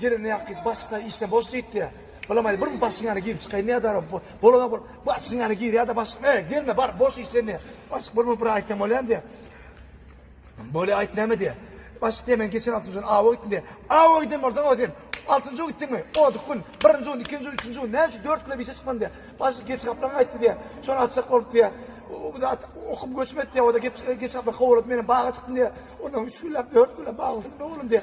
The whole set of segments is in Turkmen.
Gelende ýaňky gyz başga işde boş diýipdi. Bulamaý bir başyň ýana girip çykaýyn nädara bolana bol. Başyň ýana girýada başyk. Eý, gelme bar boş iş sende. Başyk bolma bir aýtsam bolýamy diýä. Bolýa aýt näme diýä. Başyk diýä men geçen altynjy gün awa gitdim diýä. Awa giden bolsaň o sen. Altynjy gün gitdiňmi? Odyk gün. Birinji gün, ikinji gün, üçünji gün. Näme üçin dört güne işe çykmadym diýä. Başyk geç gaplaň aýtdy diýä. Şony açjak bolup diýä. O bir zat okup göçmedi diýä. O da geç gaplaň kowalady. Menem baga çykdym diýä. Ondan üç günläp, dört günläp baga gitdim oglum diýä.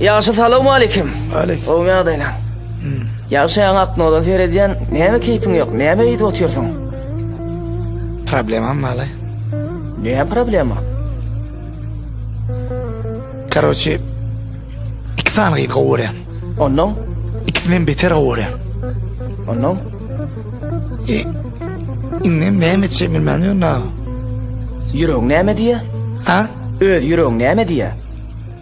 Ýagşy salowmalikim. Aleýk. Gowymy ýagdaýlaň? Hmm. Ýagşy ýaňy aknodan seredýän, näme keýpiň ýok, näme eýdip otyrsyň? Problemam bala. Näme problema? Karoçi, iki sany gyz gowy görýän. Ondan? Ikisinden beter gowy görýän. Ondan? E, indi näme etjek bilmän ýörün ha. Ýüregiň näme diýýär? Ha? Öz ýüregiň näme diýýär?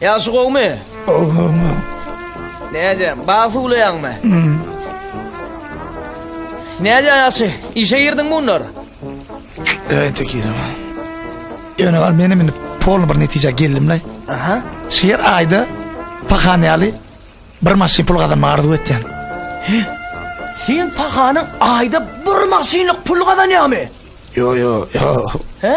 Ýagşy gowmy? Gowmy? Näde, bag suwlaýaňmy? Näde ýagşy, işe girdiň munlar? Öýte girme. Ýöne gal meni minip polny bir netijä geldim la. Aha. Şu ýer aýda pahan ýaly bir maşyn pul gazanma arzuw etýän. Sen pahanyň aýda bir maşynlyk pul gazanýamy? Yo yo yo. He?